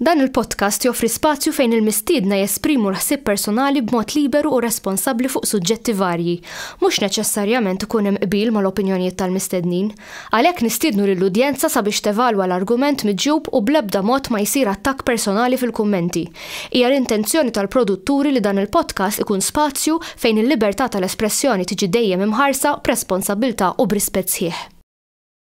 Dan il-podcast joffri spazju fejn il-mistiedna jesprimu l-ħsieb personali b'mod liberu u responsabbli fuq suġġetti varji. Mhux neċessarjament ikun hemm qbil mal-opinjonijiet tal-mistednin. Għalhekk nistiednu lill-udjenza sabiex tevalwa l-argument miġjub u bl-ebda mod ma jsir attakk personali fil-kummenti. Hija l-intenzjoni tal-produtturi li dan il-podcast ikun spazju fejn il-libertà tal-espressjoni tiġi dejjem imħarsa b'responsabbiltà u b'rispett sħiħ.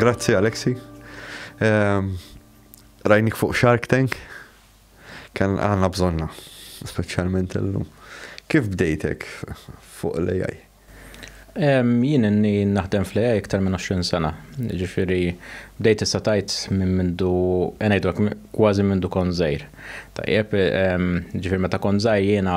Grazzi Alexi. Ehm, rajnik fuq Shark Tank. Kan għanna bżonna, specialment l-lum. Kif bdejtek fuq l-AI? Ehm, jien inni naħdem fl-AI iktar minn 20 sena. Ġifiri, bdejt issa tajt minn mindu, enajdok, kważi mindu konzajr. Tajjeb, ehm, ġifiri, meta konzajr jiena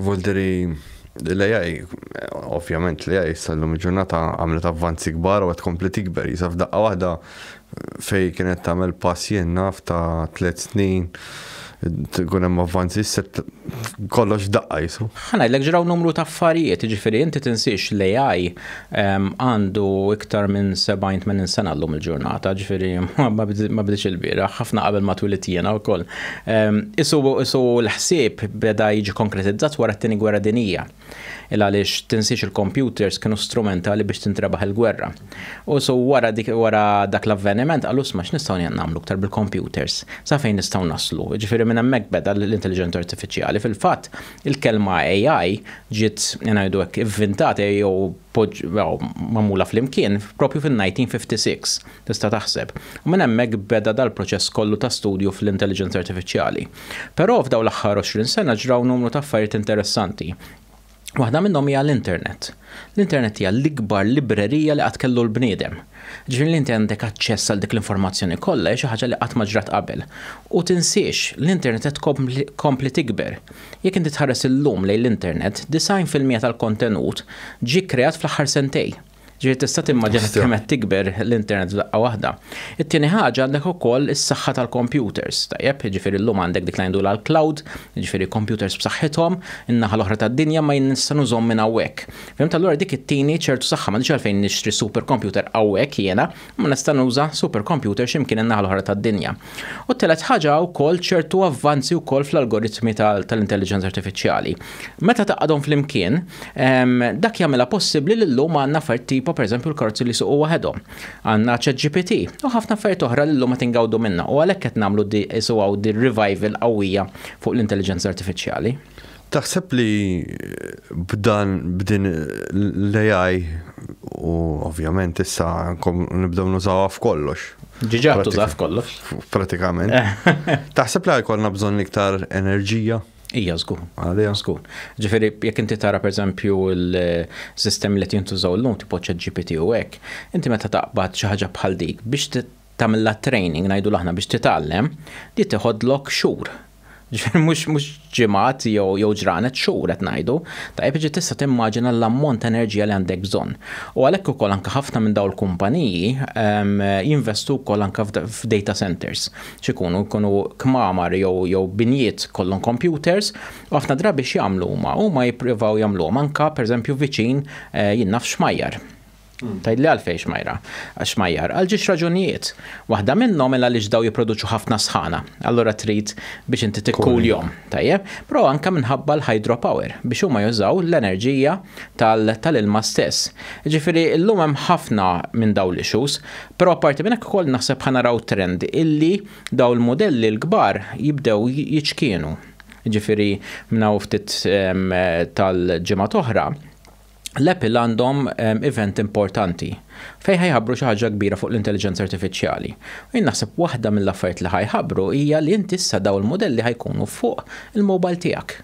Volderi l-AI, ovvjament l-AI sallum il-ġurnata għamlet avvanzi kbar u għed kompli tikber. Jisaf daqqa wahda fej kienet tamel pass jien naf ta' tlet snin, tkun hemm avvanzi set kollox daqqa jisu. Ħana l-ek ġraw numru ta' affarijiet, ġifiri inti tinsiex l-AI għandu iktar minn 70-80 sena llum il-ġurnata, ġifieri ma bdiċ il-bieraħ, ħafna qabel ma twilit jiena wkoll. Isu isu l-ħsieb beda jiġi konkretizzat wara t-Tieni Gwerra Dinija. Il għaliex tinsiex il-kompjuters kienu strumentali biex tintrebaħ il-gwerra. U isu wara dik wara dak l-avveniment qalu sma' x'nistgħu nagħmlu iktar bil-kompjuters? Sa fejn nistgħu naslu? Ġifieri minn hemmhekk beda l-intelliġenza artifiċjali. Fil-fatt, Il-kelma AI ġiet, ngħidu hekk, ivvintata jew magħmula flimkien proprju fin-1956, tista' taħseb, u minn hemmhekk beda dal-proċess kollu ta' studju fl-intelliġenza artifiċjali. Però f'dawn l-aħħar għoxrin sena ġraw numru ta' affarijiet interessanti. Waħda minnhom hija l-internet. L-internet hija l-ikbar librerija li qatt kellu l-bniedem. Jiġifieri li inti għandek aċċess għal dik l-informazzjoni kollha hija xi ħaġa li qatt ma ġrat qabel. U tinsiex, l-internet qed tkompli tikber. Jekk inti tħares illum lejn l-internet, 90 fil-mija tal-kontenut ġie kkreat fl-aħħar sentejn. Jiġifieri tista' timmaġina kemm qed tikber l-internet f'daqqa waħda. It-tieni ħaġa għandek ukoll is-saħħa tal-kompjuters, tajjeb, jiġifieri llum għandek dik li ngħidulha l-cloud, jiġifieri kompjuters b'saħħithom In-naħa l-oħra tad-dinja ma jien nista' nużhom minn hawnhekk. Fhimt allura dik ittini ċertu saħħa m'għandix għalfejn nixtri super computer hawnhekk jiena imma nista' nuża super computer xi mkien in-naħa l-oħra tad-dinja. U t-telet ħaġa hawn ukoll ċertu avvanzi wkoll fl-algoritmi tal-intelliġenza artifiċjali. Meta tgħaqqadhom flimkien, dak jagħmilha possibbli li llum għandna affarijiet tipo pereżempju l-karozzi li jsuqu waħedhom. Għandna ChatGPT u ħafna affarijiet oħra li llum qed ingawdu minnha u għalhekk qed nagħmlu di isu hawn di revival qawwija fuq l-intelliġenza artifiċjali. Taħseb li b'dan b'din l-AI u ovvjament issa nibdew nużawha f'kollox. Ġiġa tuża f'kollox. Pratikament. Taħseb li jkollna bżonn iktar enerġija? Ija żgur, għalija żgur. Ġifieri jekk inti tara pereżempju l-sistemi li jintużaw llum tipo ChatGPT u hekk, inti meta taqbad xi ħaġa bħal dik biex tagħmilha training ngħidu aħna biex titgħallem, di tiħodlok xhur. Ġifieri mhux mhux ġimgħat jew jew ġranet xhur qed ngħidu, tajjeb ġi tista' timmaġina l-ammont ta' enerġija li għandek bżonn. U għalhekk ukoll anke ħafna minn dawn il-kumpaniji ehm, jinvestu wkoll anke f'data centers. x'ikunu, jkunu kmamar jew jew binjiet kollhom kompjuters, u ħafna drabi x'jagħmlu huma? Huma jippruvaw jagħmluhom anka pereżempju viċin eh, jien naf xmajjar. Hmm. Tajd li għalfej xmajra, xmajjar, għal ġiex raġunijiet. Waħda minnhom illa li ġdaw jipproduċu ħafna sħana, allura trid biex inti tikkul jom, tajjeb, pro anka minħabba l-hydropower biex huma jużaw l-enerġija tal-ilma stess. Ġifiri, l-lum hemm ħafna minn daw l-issues, Però apparti minn hekk ukoll naħseb ħa naraw trend illi dawn il-mudelli l-kbar jibdew jiċkienu. Jiġifieri minn hawn ftit ehm, tal-ġimgħat oħra, l-Apple għandhom ehm, event importanti fejn ħajħabbru xi ħaġa kbira fuq l-intelliġenza artifiċjali. U jien naħseb waħda mill-affarijiet li ħajħabbru hija li inti issa dawn il-mudelli ħajkunu fuq il-mobile tiegħek.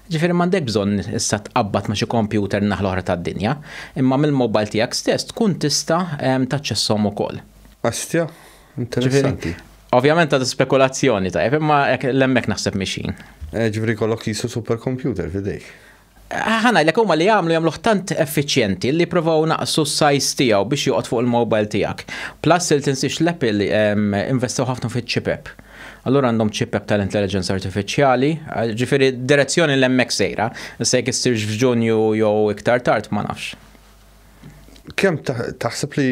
Ġifieri m'għandek bżonn issa tqabbad ma' xi kompjuter n-naħa l-oħra tad-dinja, imma mill-mobile tiegħek stess tkun tista' taċċesshom ukoll. Astja, interessanti. Ovvjament għadu spekulazzjoni tajjeb, imma l-hemmhekk naħseb mixin. Eh, ġifieri kollok qisu supercomputer f'idejk. Ħana, l huma li għamlu jagħmluh tant effiċjenti li provaw naqsu s-sajz tiegħu biex joqgħod fuq il-mobile tiegħek. Plus il tinsix l-Apple ehm, investew ħafna fiċ-ċipep. Allura għandhom ċipep tal-intelliġenza artifiċjali, ġifieri direzzjoni l hemmhekk sejra, issa jekk issirx f'Ġunju jew iktar tard ma nafx. Kemm taħseb li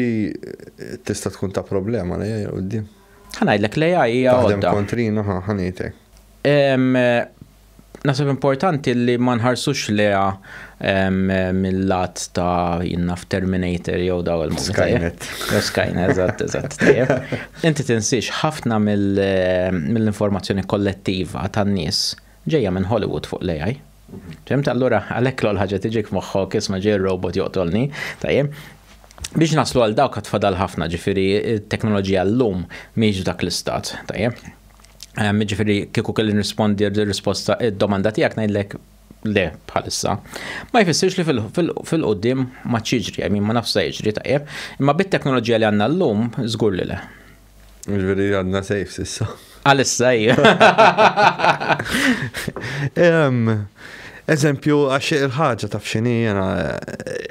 tista' tkun ta' problema li hija quddiem? Ħa ngħidlek li hija hija. Taħdem kontrina ħa ħanejtek. Nasib importanti li ma nħarsux leha mill-lat ta' jinna f'Terminator jew daw il-Skynet. Skynet, eżatt, eżatt. Inti tinsiex ħafna mill-informazzjoni kollettiva tan-nies ġejja minn Hollywood fuq l-AI. Fimt allura għalhekk l ħaġa tiġik moħħok isma' ġej robot joqtolni, tajjeb. Biex naslu għal dawk għad fadal ħafna ġifieri t-teknoloġija llum mhix dak l-istat, tajjeb. Ehm, ġifiri, kieku kelli nrispondi risposta id-domanda tiegħek ngħidlek le bħalissa. Ma jfissirx li fil-qoddim ma ċiġri, għajmi ma nafsa jiġri tajjeb, imma bit-teknoloġija li għanna l-lum, zgur li le. Ġveri għanna sejf sissa. Għalissa, Eżempju, għax il-ħagġa taf xini jena,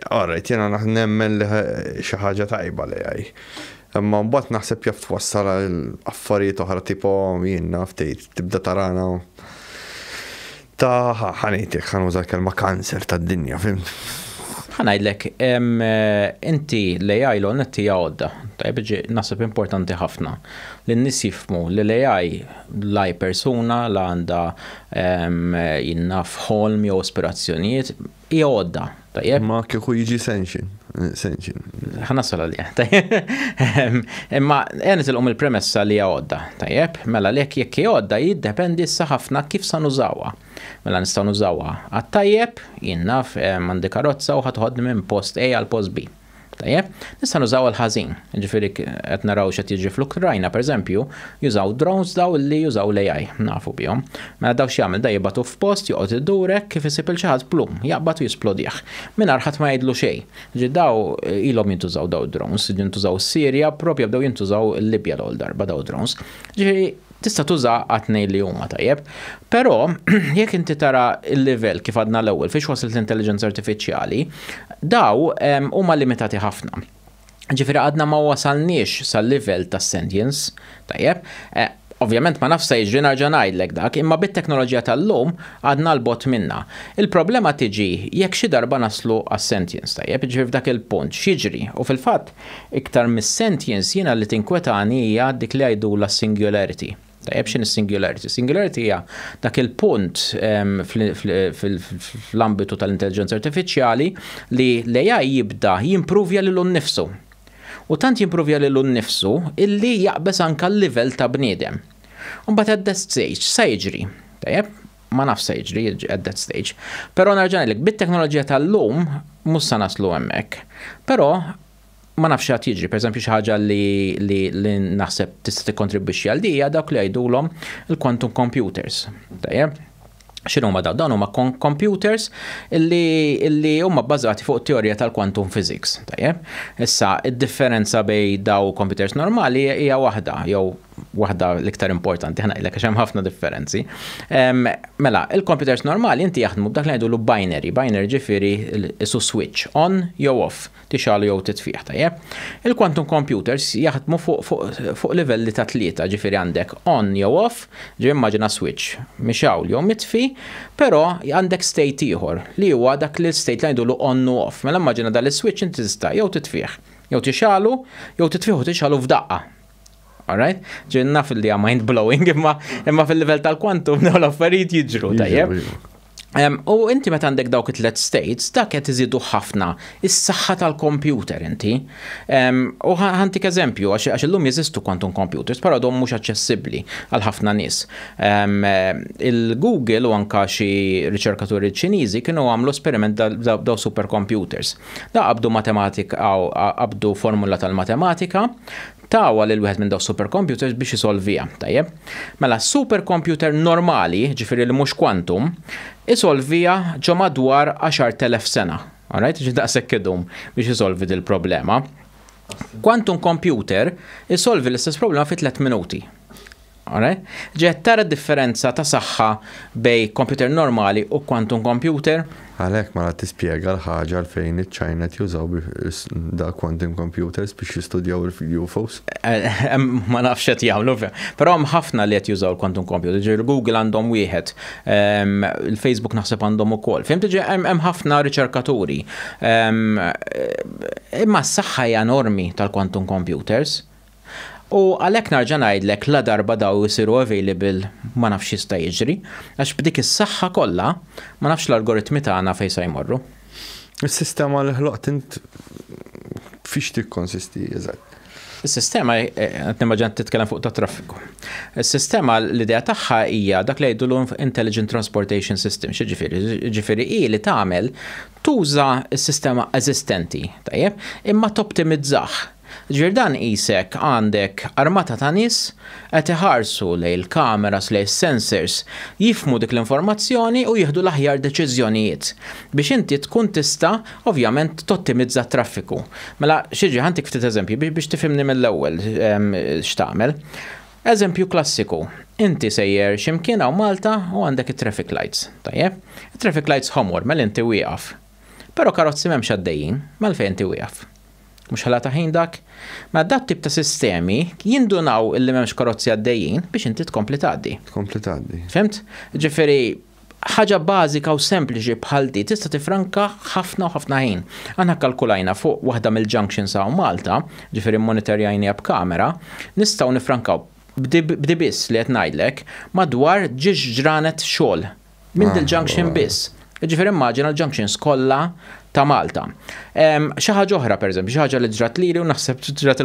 għarret eh, jena naħnemmen li xaħġa tajba li għaj. Imma mbagħad naħseb jaf twassal għal affarijiet oħra tipo jien naf tgħid tibda tarana ta' ħanejtek ħan uża kelma kanser tad-dinja, fimt? Ħanajdlek, inti l-AI l-onet tija għodda, tajb ġi nasib importanti ħafna. Li n-nis jifmu li l-AI laj persuna la għanda jinnaf ħolm jew aspirazzjonijiet, Hija għodda, tajjeb. Imma kieku jiġi sanction, sanction. Ħa nasal għalih, tajjeb. Imma ejja nitilqu mill-premessa li hija għodda, tajjeb. Mela lek jekk hi għodda jiddependi issa ħafna kif sa nużawha. Mela nistgħu nużawha għat-tajjeb, jien naf għandi karozza u ħa toħodni minn post A għal post B. Tajjeb, nista' nużaw il-ħażin, ġifieri qed naraw x'qed jiġri fl-Ukrajna, pereżempju, jużaw drones daw li jużaw l-AI, nafu bihom. Mela daw x'jagħmel da jibatu f'post joqgħod idurek kif isib il xi ħadd plum, jaqbad u jisplodih. Mingħajr ħadd ma jgħidlu xejn. Ġi daw ilhom jintużaw daw drones, jintużaw s-Sirja, propja bdew jintużaw il-Libja l-ewwel darba daw drones. Ġifieri Tista' tuża għat-tnejn li huma, tajjeb. Però jekk inti tara l-livell kif għadna l-ewwel fiex waslet l-intelliġenza artifiċjali, daw huma limitati ħafna. Ġifieri għadna ma wasalniex sal-livell tas-sentience, tajjeb. Eh, Ovvjament ma nafx se jiġri narġa' ngħidlek dak, imma bit-teknoloġija tal-lum għadna l-bot minna. Il-problema tiġi jekk xi darba naslu għas-sentience tajjeb, ġifieri f'dak il-punt x'jiġri u fil-fatt Iktar mis-sentience jiena li tinkwetani hija dik li jgħidulha s-singularity. Tajjeb x'inhi s-singularity? Singularity hija dak il-punt fl-ambitu tal-intelliġenza artifiċjali li l-AI jibda jimpruvja lilu nnifsu. U tant jimpruvja lilu nnifsu illi jaqbeż anke l-livell ta' bniedem. U mbagħad at that stage x'sa jiġri? Tajjeb? ma nafx se jiġri at that stage. Però nerġa' ngħidlek, bit-teknoloġija tal-lum mhux se naslu hemmhekk. Però ma nafx għad jiġri, per eżempju xi ħaġa li, li, li naħseb tista' tikkontribwixxi għal dija dawk li jgħidulhom il-quantum computers. Tajjeb? X'inhu huma dawn? Dawn huma computers li, li huma bbażati fuq teorija tal-quantum physics. Tajjeb? Issa, id-differenza bej daw computers normali hija waħda, jew waħda l-iktar importanti, ħna ilek xem ħafna differenzi. Mela, il-computers normali inti jaħdmu b'dak li għajdu l binary, binary ġifiri isu switch, on jew off, tixalu jew titfiħ, tajjeb. Il-quantum computers jaħdmu fuq livelli ta' tlieta, ġifiri għandek on jew off, ġi immaġina switch, mixaw jew mitfi, pero għandek state ieħor li huwa dak li state li għajdu on u off. Mela immaġina dal-switch inti tista' jew titfiħ, jew tixalu, jew titfiħ u tixalu f'daqqa. Alright? Ġin naf li hija mind blowing imma imma fil-livell tal-kwantum dawn l-affarijiet jiġru tajjeb. U inti meta għandek dawk it-tlet states, dak qed iżidu ħafna is-saħħa tal-kompjuter inti. U ħantik eżempju, għax illum jeżistu quantum computers, però dom mhux aċċessibbli għal ħafna nies. Il-Google u anka xi riċerkaturi Ċiniżi kienu għamlu esperiment daw supercomputers. Daw qabdu matematik aw qabdu formula tal-matematika, tawha lil wieħed minn daw supercomputers biex isolviha, tajjeb. Mela supercomputer normali, ġifieri li mhux quantum, isolviha ġo madwar 10,000 sena. Alright, ġifieri daqshekk idum biex isolvi dil-problema. Quantum computer isolvi l-istess problema fi tliet minuti. Alright? Ġiet tara d-differenza ta' saħħa bejn computer normali u quantum computer? Għalhekk mela tispjega l-ħaġa għalfejn iċ-Ċina qed jużaw dal-quantum computers biex jistudjaw il-UFOs. Ma nafx qed jagħmlu, però hemm ħafna li qed jużaw il-quantum computer. Ġifieri Google għandhom wieħed, ehm, il-Facebook naħseb għandhom ukoll. Fimtu ġi hemm ħafna riċerkaturi. Ehm, imma s-saħħa hija enormi tal-quantum computers. U għalhekk narġa' ngħidlek ladarba daw isiru available ma nafx x'jista' jiġri, għax b'dik is-saħħa kollha ma nafx l-algoritmi tagħna fejn sa jmorru. Is-sistema li ħloqt int fiex tikkonsisti eżatt? Is-sistema, qed nimmaġina qed titkellem fuq tat-traffiku. Is-sistema l-idea tagħha hija dak li jgħidulu intelligent transportation system, x'jiġifieri? Jiġifieri hi li tagħmel tuża s-sistema eżistenti, tajjeb, imma toptimizzah. Ġifier dan qisek għandek armata ta' nies qed iħarsu lejn il-kameras, lejn is-sensors, jifhmu dik l-informazzjoni u jieħdu l-aħjar deċiżjonijiet biex inti tkun tista' ovvjament tottimizza t-traffiku. Mela x'jiġri, ħa ntik ftit eżempji biex tifhimni mill-ewwel x'tagħmel. Eżempju klassiku, inti sejjer xi mkien hawn Malta u għandek it-traffic lights, tajjeb? It-traffic lights ħomor, mela inti wieqaf. Però karozzi m'hemmx għaddejjin, mela għalfejn inti wieqaf? Mhux ħela ta' ħin dak? Mela dat tip ta' sistemi jindunaw illi m'hemmx karozzi għaddejjin biex inti tkompli tgħaddi. Tkompli tgħaddi. Fimt? Ġifieri ħaġa bażika u sempliċi bħal di tista' tifranka ħafna u ħafna ħin. Aħna kkalkulajna fuq waħda mill-junctions hawn Malta, ġifieri mmonitorjajniha b'kamera, nistgħu nifrankaw b'di biss li qed ngħidlek madwar ġiex ġranet xogħol Minn dil-junction biss. Ġifir immaġina l-junctions kollha ta' Malta. Xi ħaġa oħra pereżempju, xi ħaġa li ġrat lili u naħseb ġrat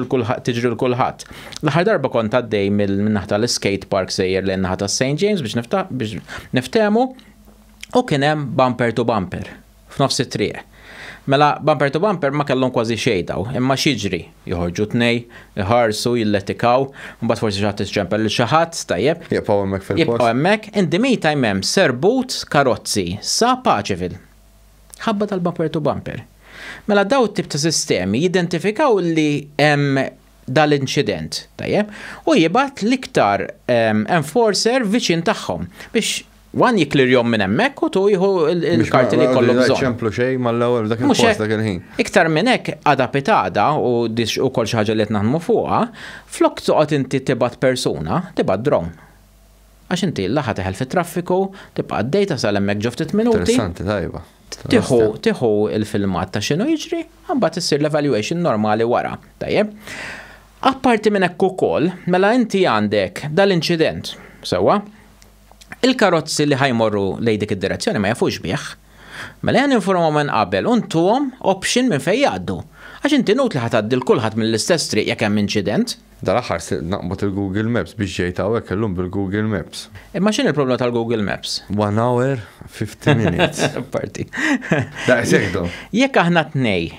tiġri l kulħadd. L-aħħar darba kont għaddej mill-naħa tal-skate park sejjer lejn naħa ta' St. James biex niftehmu u kien hemm bumper to bumper. f'nofs it-triq. Mela, bumper to bumper ma kellhom kważi xejn dawn, imma x'jiġri? Joħorġu tnej, iħarsu, jilletikaw, imbagħad forsi xi ħadd iċċempel lil xi ħadd, tajjeb. Jibqgħu hemmhekk fil-post. Jibqgħu hemmhekk. In the meantime hemm serbut karozzi sa Pageville. Ħabba tal-bumper to bumper. Mela dawn it-tip ta' sistemi jidentifikaw li hemm dal-inċident, tajjeb, u jibgħat l-iktar ehm, enforcer viċin tagħhom biex Wan jom minn hemmhekk u tu jieħu l-karti li kollu bżonn. ċemplu xejn mal-ewwel dak il-post dak il-ħin. Iktar minn hekk għada pitada u dix u kol xi ħaġa li qed naħdmu fuqha, flok toqgħod inti tibgħat persuna, tibgħat dron. Għax inti la ħa teħel fit-traffiku, tibqa' għaddej tasal hemmhekk ġo ftit minuti. Interessanti tajba. Tieħu tieħu l-filmat ta' x'inhu jiġri, imbagħad issir l-evaluation normali wara. Tajjeb. Apparti minn hekk ukoll, mela inti għandek dal-inċident, sewwa? Il-karozzi li ħa jmorru lejn dik id-direzzjoni ma jafux bih. Mela jen informhom minn qabel u ntuhom option minn fejn jgħaddu. Għax inti nut li ħa tgħaddi 'l kulħadd mill-istess triq jekk hemm inċident. Dal-aħħar sirt naqbad il-Google Maps biex ġejt hawnhekk illum bil-Google Maps. Imma x'inhi l-problema tal-Google Maps? One hour, fifty minutes. Parti. Daqshekk dom. Jekk aħna t-tnej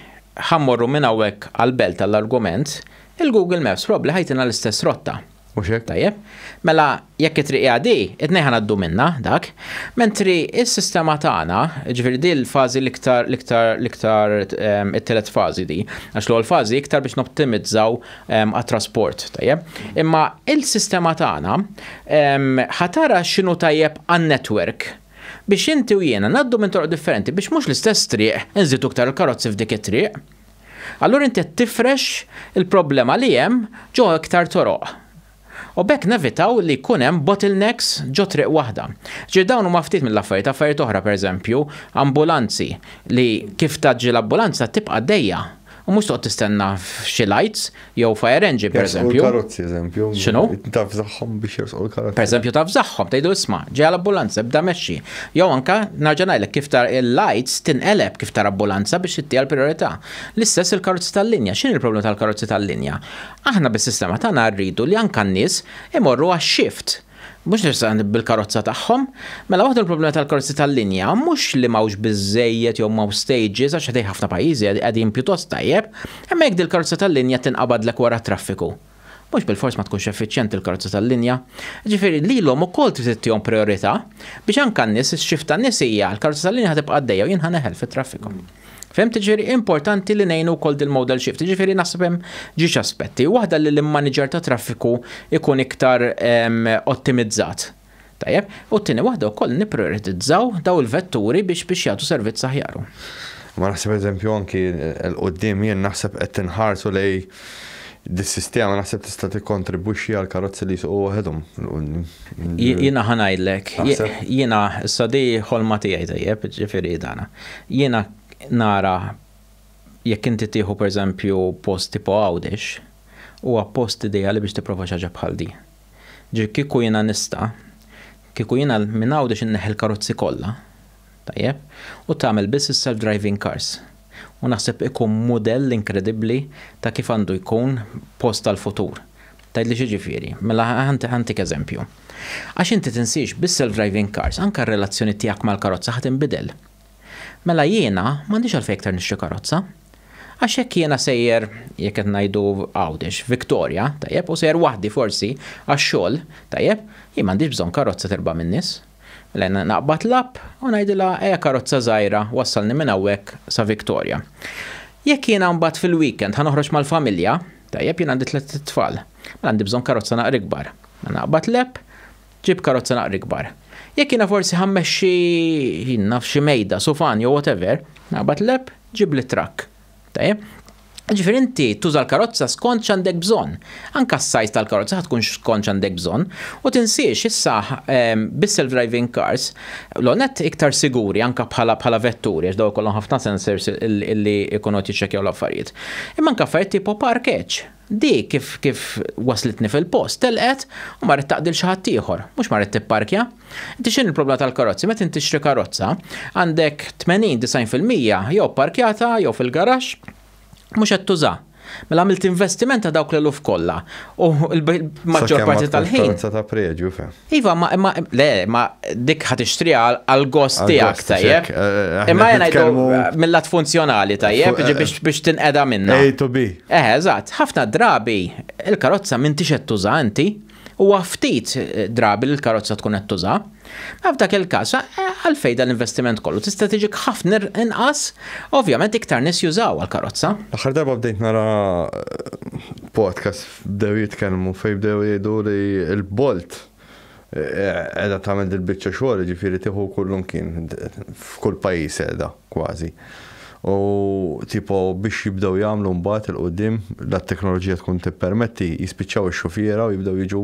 ħa mmorru minn hawnhekk għall-belt għall-argument, il-Google Maps probabbli ħa jtina l-istess rotta. Mhux hekk? Tajjeb. Mela jekk it-triq hija di, it-tnej ħa ngħaddu minnha dak. Mentri s-sistema tagħna, ġifieri di l-fażi l-iktar l-iktar l-iktar ehm, it-tielet fażi di. Għax l-ewwel fażi iktar biex noptimizzaw ehm, għat-trasport, tajjeb. Imma il-sistema tagħna ehm, ħatara x'inhu tajjeb għan-netwerk biex inti u jiena naddu minn toroq differenti biex mhux l-istess triq inżidu iktar il-karozzi f'dik it-triq. Allura inti tifrex il-problema li hemm ġo iktar toroq. U b'hekk nevitaw li jkun hemm bottlenecks ġo triq waħda. Ġifieri dawn huma ftit mill-affarijiet, affarijiet oħra pereżempju, ambulanzi li kif tgħaġġi l-ambulanza tibqa' għaddejja u mhux toqgħod tistenna f'xi lights jew fire engine pereżempju. Jersqu l-karozzi eżempju. X'inhu? Tafżagħhom biex jersqu l-karozzi. Pereżempju tafżagħhom, tgħidu isma' ġejja l-ambulanza ibda mexxi. Jew anke nerġa' ngħidlek kif tara il-lights tinqeleb kif tara ambulanza biex tittiha l-prijorità. L-istess il-karozzi tal-linja. X'inhi l-problema tal-karozzi tal-linja? Aħna bis-sistema tagħna rridu li anke n-nies imorru għax-xift, mhux neċessarjament bil-karozza tagħhom. Mela waħda mill-problemi tal-karozzi tal-linja mhux li m'hawnx biżżejjed jew m'hawnx stages għax ħdejn ħafna pajjiżi qegħdin pjuttost tajjeb, imma jekk dil-karozza tal-linja tinqabadlek wara t-traffiku, mhux bilfors ma tkunx effiċjenti l-karozza tal-linja. Jiġifieri lilhom ukoll trid ittihom prijorità biex anke n-nies, ix-xift tan-nies hija l-karozza tal-linja ħa tibqa' għaddejja u jien ħa neħel fit-traffiku. Fem tiġifieri importanti li ngħinu wkoll dil-modal shift. Jiġifieri naħseb hemm ġiex aspetti. Waħda li l-manager ta' traffiku ikun iktar ehm, ottimizzat. Tajjeb, u t-tieni waħda wkoll nipprioritizzaw daw il-vetturi biex biex jagħtu servizz aħjaru. Ma naħseb eżempju anki l-qoddim jien naħseb qed tinħarsu lej Dis-sistema naħseb tista' tikkontribwixxi għal karozzi li jsuqu waħedhom il quddiem. Jiena ħa ngħidlek, jiena issa di ħolma tiegħi tajjeb, ġifieri dana. Jiena nara jekk inti tieħu pereżempju post tipo Għawdex, huwa post ideali biex tipprova xi ħaġa bħal di. Ġifieri kieku jiena nista', kieku jiena minn Għawdex inneħħi l-karozzi kollha, Tajjeb. U tagħmel biss is-self-driving cars. U naħseb ikun mudell inkredibbli ta' kif għandu jkun post tal-futur. Tgħidli x'jiġifieri? Mela ħantik eżempju. Għax inti tinsiex bis-self-driving cars anke r-relazzjoni tiegħek mal-karozza ħa tinbidel. Mela jiena m'għandix għalfejn iktar nixtri karozza. Għax jekk jiena sejjer, jekk qed ngħidu Għawdex, Victoria, tajjeb, u sejjer waħdi forsi għax-xogħol, tajjeb, jien m'għandix bżonn karozza terba' min-nies. Lena, Naqbad l-app u ngħidilha ejja karozza żgħira wassalni minn hawnhekk sa Victoria. Jekk jiena mbagħad fil-weekend ħa noħroġ mal-familja, tajjeb jien għandi tliet itfal, mela għandi bżonn karozza naqra ikbar. Mela naqbad l-app, ġib karozza naqra ikbar. Jekk jiena forsi ħa mmexxi naf xi mejda, sufan jew whatever, naqbad l-app, ġibli truck. Tajjeb? Ġifieri inti tuża l-karozza skont x'għandek bżonn. Anke s-size tal-karozza ħa tkun skont x'għandek bżonn. U tinsiex issa ehm, bis-self-driving cars, l-ewwel nett iktar siguri anke bħala bħala vetturi għax dawn ikollhom ħafna sensors li jkunu qed jiċċekkjaw l-affarijiet. Imma anke affarijiet tipo parkeġġ. Di kif kif waslitni fil-post, telqet u marret taqdi 'l xi ħadd ieħor, mhux marret tipparkja. Inti x'inhi l-problema tal-karozzi? Meta int tixtri karozza, għandek 80, 90 fil-mija jew pparkjata jew fil-garaxx mhux qed tuża. Mela għamilt investiment ta' dawk l-eluf kollha u l-maġġor parti tal-ħin. Sakemm ma tkunx karozza ta' preġju, fem. Iva, ma, ma, le, ma dik ħat ixtriha għal-gost tiegħek tajjeb. Eh, eh, eh, Imma jena jgħidu mill-lat funzjonali tajjeb, biex biex tinqeda minna. A to B. Eh, eżatt, ħafna drabi il-karozza minn tixet tuża inti, u ftit drabi l-karozza tkun qed tuża. Ma f'dak il-każ, għalfej dan l-investiment kollu tista' tiġi ħafna inqas, ovvjament iktar nies jużaw għal karozza Aħħar darba bdejt nara podcast Bdew jitkellmu fejn bdew jgħidu li l-Bolt qiegħda tagħmel dil-biċċa xogħol, jiġifieri tieħu kullimkien, f'kull pajjiż qiegħda kważi. U tipo biex jibdew jagħmlu mbagħad 'il quddiem, la t-teknoloġija tkun tippermetti, jispiċċaw ix-xufiera u jibdew jiġu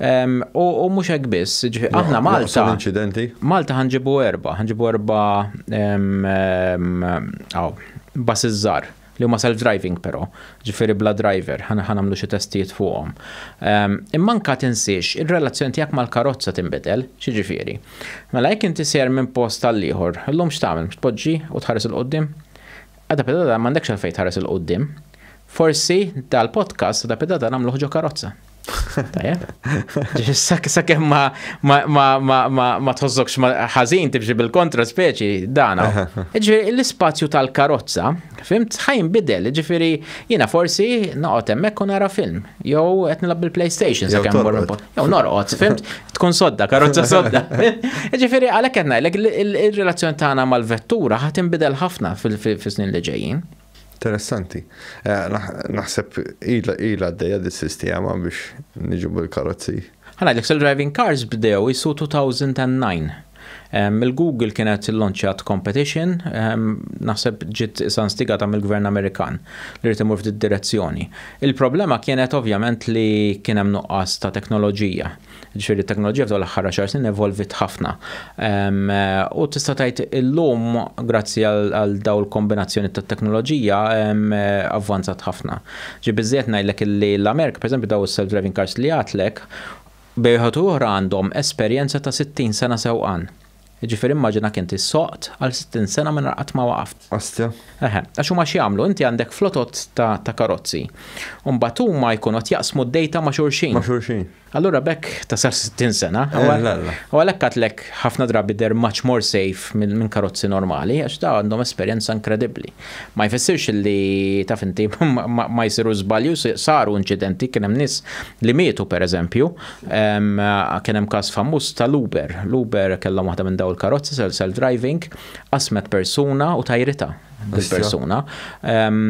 U mhux hekk biss, ġifieri aħna Malta. inċidenti. Malta ħanġibu erba, ħanġibu erba bas iż-żar li huma self-driving però, ġifieri bla driver, ħana ħanamlu xi testijiet fuqhom. Imma anke tinsiex, ir-relazzjoni tiegħek mal-karozza tinbidel, x'jiġifieri? Mela jekk inti sejjer minn post għal ieħor, illum x'tagħmel? Mhux tpoġġi u tħares 'il quddiem? Għada pedata m'għandekx għalfejn tħares 'il quddiem. Forsi dal-podcast għada pedata nagħmluh ġo karozza. Sa' kem ma ma tħozzokx ħazin tibġi bil-kontra speċi dana. Ġifiri l-spazju tal-karozza, fimt, ħajn bidel, ġifiri jina forsi naqot emmek u nara film, jow qed nilab bil-PlayStation sa' kem Jow norqot, fimt, tkun sodda, karozza sodda. Ġifiri għalek għedna, il-relazzjoni tagħna mal-vettura ħat imbidel ħafna fil-snin li ġejjin. Interessanti. Naħseb ilha għaddejja dis-sistema biex niġu bil-karozzi. Ħa ngħidlek, self-driving cars bdew is 2009. Il-Google kienet illanċjat competition, naħseb ġiet isa instigata mill-Gvern Amerikan li ried imur f'did-direzzjoni. Il-problema kienet ovvjament li kien hemm nuqqas ta' teknoloġija. Ġifieri t-teknoloġija f'dawn l-aħħar għaxar snin evolviet ħafna. U tista' tgħid illum grazzi għal dawn il-kombinazzjoni tat-teknoloġija avvanzat ħafna. Ġi biżżejjed ngħidlek illi l-Amerika, pereżempju dawn is-self-driving cars li għedtlek, bejn wieħed u oħra għandhom esperjenza ta' 60 sena sewqan. Jiġifieri immaġinak int issoqt għal 60 sena mingħajr qatt ma waqaft. Astja. Eħe, għax huma x'jagħmlu? Inti għandek flotot ta' karozzi. U mbagħad huma jkunu qed jaqsmu d-dejta ma' xulxin. Ma' xulxin. Allura b'hekk tasal 60 sena. U għalhekk għadlek ħafna drabi they're much more safe minn karozzi normali għax dawn għandhom esperjenza inkredibbli. Ma jfissirx li taf inti ma jsirux żbalji u saru inċidenti kien hemm nies li mietu pereżempju Kien hemm każ famuż tal-Uber. L-Uber kellhom waħda minn daw il-karozzi self-driving, qasmet persuna u tajrita bil-persuna.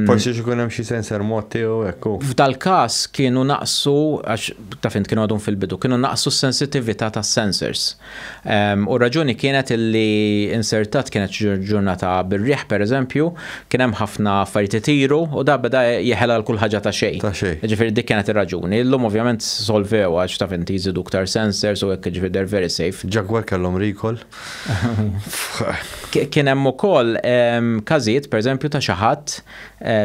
Forsi xikun hemm xi sensor mod tiegħu hekk. F'dal-każ kienu naqsu għax ta' fint kienu għadhom fil-bidu, kienu naqsu s-sensitività tas-sensors. U r-raġuni kienet illi insertat kienet ġurnata bir-riħ pereżempju, kien hemm ħafna affarijiet itiru u da beda jeħel għal kull ħaġa ta' xejn. Ta' xejn. Jiġifieri dik kienet ir-raġuni. Illum ovvjament solvewha għax taf inti jżidu iktar sensors u hekk jiġifieri they're very safe. Jaguar kellhom recall. Kien hemm ukoll każijiet pereżempju ta' xi ħadd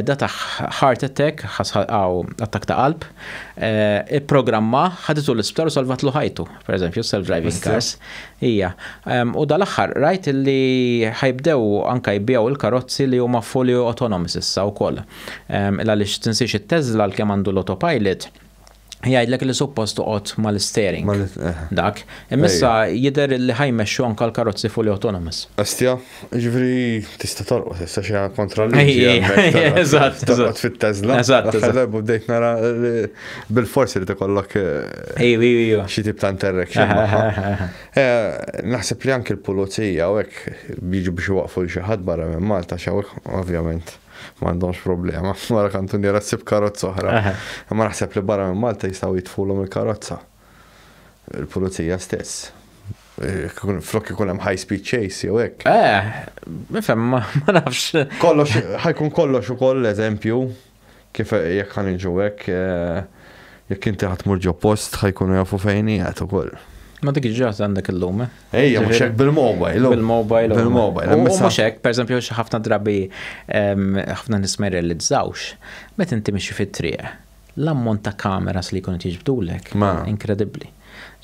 da tah heart attack, attakk ta' qalb, ipprogrammah, ħaditu l-isptar u salvatlu ħajtu. per eżempju, self-driving cars. Ija. U dal-axħar, rajt li ħajbdew anka jibbijaw il-karozzi li huma fully autonomous issa u koll. Illa li tinsiex il-Tesla l-kem għandu l-autopilot, jgħidlek li suppost toqgħod mal-steering. Eh. Dak. Immissa jider li ħajmexxu anka l-karozzi fully autonomous. Astja? Ġifri, tista torqos, issa xi kontra l-liġi. Eżatt, eżatt. fit-tezla. Eżatt, eżatt. Darbu bdejt nara bil-forsi li tikollok. Eh, ejju, ejju, ejju. Xi tip ta' interaction. Eh, naħseb li anke l-pulizija u hekk biġu biex waqfu xi ħadd barra minn Malta xawek, ovvjament ma għandhomx problema. Mara kantuniera ssib karozza oħra. Ma naħseb li barra minn Malta jistgħu jitfulhom il-karozza. il-pulizija stess. Flok ikun hemm high speed chase jew hekk. Eh, nifhem ma nafx. Kollox ħajkun kollox ukoll eżempju kif jekk ħaniġu hekk eh, jekk inti ħadd mur ġo post ħajkunu jafu fejn qiegħed ukoll. Ma dik ġaħt għandek il-lum. Eh? Ejja, mux hekk bil-mobile. Oh. Bil-mobile. Oh. Bil-mobile. U mux hekk, per esempio, ħafna drabi ħafna nisma jirrealizzawx, met inti mixi fit-triq. L-ammont ta' cameras li jkunu tiġbdulek, inkredibbli.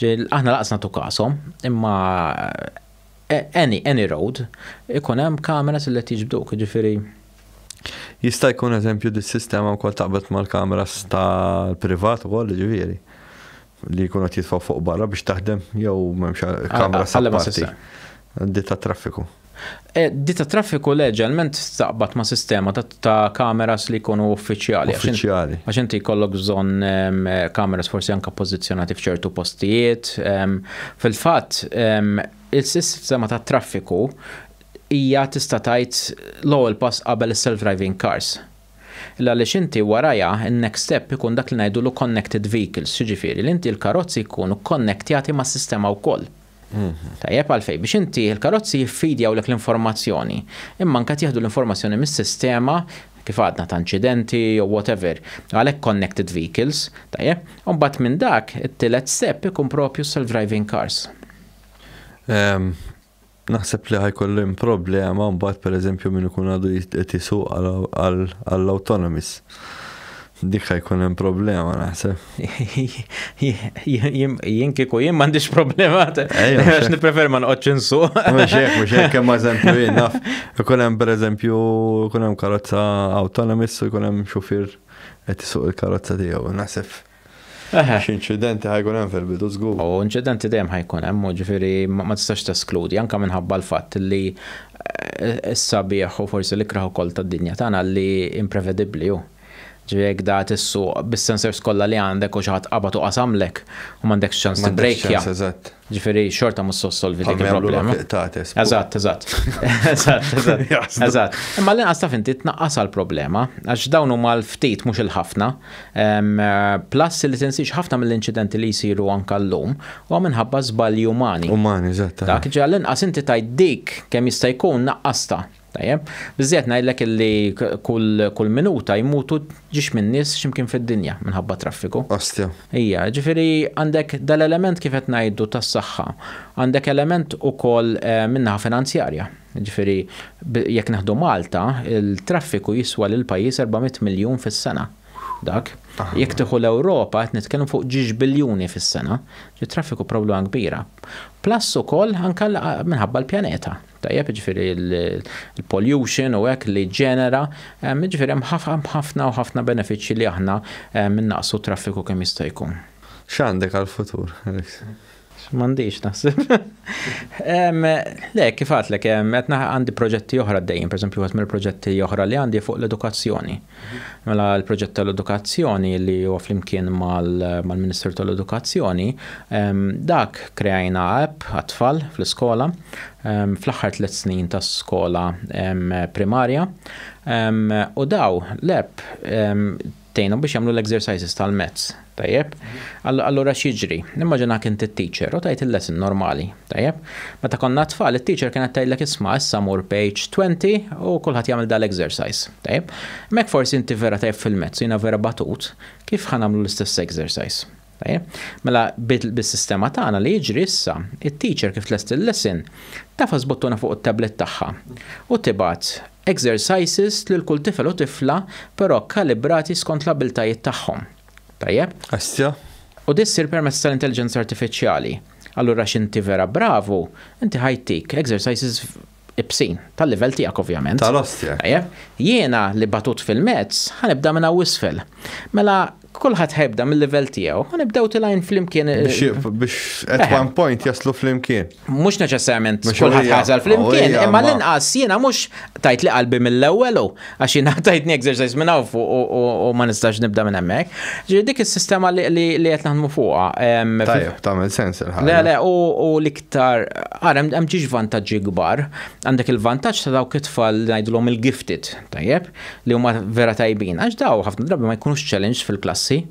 Aħna laqas nagħtu kasom, imma eh, any, any road, ikun hemm cameras li tiġbduk, ġifiri. Jista' jkun eżempju dis sistema wkoll taqbad mal-kameras tal-privat ukoll ġifieri. li jkunu qed jitfgħu fuq barra biex taħdem jew m'hemmx kamra sapparti. Ditta traffiku. E, Ditta traffiku leġalment staqbat ma' sistema ta' kameras li jkunu uffiċjali. Uffiċjali. Għax inti jkollok bżonn kameras forsi anka pożizzjonati f'ċertu postijiet. Fil-fatt, il-sistema ta' traffiku hija tista' tgħid l-ewwel pass qabel is-self-driving cars. Illa għaliex inti warajha n-next step ikun dak li ngħidulu connected vehicles, x'jiġifieri li inti l-karozzi jkunu kkonnektjati mas-sistema wkoll. Tajjeb, għalfejn? Biex inti l-karozzi jiffidjawlek l-informazzjoni, imma anke qed jieħdu l-informazzjoni mis-sistema, kif għadna, ta' inċidenti jew whatever, għalhekk connected vehicles, tajjeb? U mbagħad minn dak, it-tielet step ikun proprju s-self-driving cars. Naħseb li ħa jkollu hemm problema mbagħad pereżempju min ikun għadu qed isuq għall-autonomous. Dik ħa jkun hemm problema naħseb. Jien kieku jien m'għandix problema għax nipprefer ma noqgħodx insuq. Mhux hekk, mhux hekk hemm eżempju jien naf. Ikun hemm pereżempju ikun hemm karozza autonomous u jkun hemm xufier qed isuq il-karozza tiegħu. Naħseb Eħe. Xi inċidenti ħa jkun hemm fil-bidu żgur. U inċidenti dejjem ħa jkun hemm, u ġifieri ma tistax teskludi anke minħabba l-fatt li s-sabiħ u forsi l-ikrah ukoll tad-dinja tagħna li imprevedibbli hu. Ġifieri jekk dat is-suq bis-sensors kollha li għandek u xi ħadd qabad u qasamlek u m'għandekx ċans tibbrejkja. M'għandekx ċans, eżatt. Ġifiri, xorta mus solvi dik il-problema. Eżatt, eżatt. Eżatt, eżatt. Eżatt. Imma l-inqas taf inti tnaqqas għal-problema, għax dawn huma l-ftit mhux il-ħafna. Plus li tinsiex ħafna mill-inċidenti li jsiru anka llum u minħabba żbalji umani. Umani, eżatt. Dak ġa l-inqas inti tajt dik kemm jista' jkun naqqasta. Tajjeb, biżżejjed ngħidlek illi kull minuta jmutu ġiex minn nies x'imkien fid-dinja minħabba traffiku. Ostja. Ija, ġifieri għandek dal-element kif qed ngħidu tas-saħħa, għandek element ukoll min-naħa finanzjarja. Ġifieri jekk neħdu Malta, il-traffiku jiswa lill-pajjiż erba' mitt miljun fis-sena. Dak. Jekk tieħu l-Ewropa qed nitkellmu fuq ġiex biljuni fis-sena. Ġiet traffiku problema kbira. Plus ukoll anke minħabba l-pjaneta. tajjeb, jiġifieri l-pollution u hekk li ġġenera, jiġifieri hemm ħafna u ħafna benefiċċji li aħna innaqsu t-traffiku kemm jista' jkun. X'għandek għall-futur, Alex? M'għandix naħseb. Le, kif għedtlek, qed għandi proġetti oħra għaddejjin, pereżempju wieħed mill-proġetti oħra li għandi fuq l-edukazzjoni. Mela l-proġett tal-edukazzjoni li huwa flimkien mal-Ministeru tal-Edukazzjoni, dak kreajna app għat-tfal fl-iskola fl-aħħar tliet snin tas-skola primarja u daw l-app tgħinhom biex jagħmlu l-exercises tal-mezz Tajjeb. Allura x'jiġri? Nimmaġinak inti t-teacher u tgħid il-lesson normali. Tajjeb. Meta konna tfal it-teacher kienet tgħidlek isma' issa mur page 20 u kulħadd jagħmel dal-exercise. Tajjeb. Imma jekk forsi inti vera tajjeb fil-maths u jiena vera batut, kif ħa nagħmlu l-istess exercise? Tajjeb. Mela bis-sistema tagħna li jiġri issa, it-teacher kif tlest il-lesson, tafas buttuna fuq it-tablet tagħha u tibgħat Exercises lil kull tifel u tifla però kkalibrati skont l-abbiltajiet tagħhom. Tajjeb? Għestja? U di ssir permezz tal-intelliġenza artifiċjali. Allura x'inti vera bravu, inti ħa jtik exercises ibsin, tal-livell tiegħek ovvjament. Tal-ostja. Tajjeb? Jiena li batut fil-mezz, ħa nibda minn hawn isfel. Mela kulħadd ħa jibda mil-livell tiegħu u nibdew tilgħin flimkien. Biex at one point jaslu flimkien. mux neċessarjament kullħat ħazal fl-imkien, imma l-inqas jena mux tajt li qalbi mill-ewwel għax jena tajtni exercise minn hawn fuq u ma nistax nibda minn hemmhekk. Ġifieri dik is-sistema li qed naħdmu fuqha. Tajjeb, tagħmel sens il-ħaġa. Le, le, u l-iktar ara hemm ġiex vantaġġi kbar. Għandek il-vantaġġ ta' dawk it-tfal ngħidulhom il-gifted, tajjeb, li huma vera tajbin. Għax daw ħafna drabi ma jkunux challenge fil-klassi.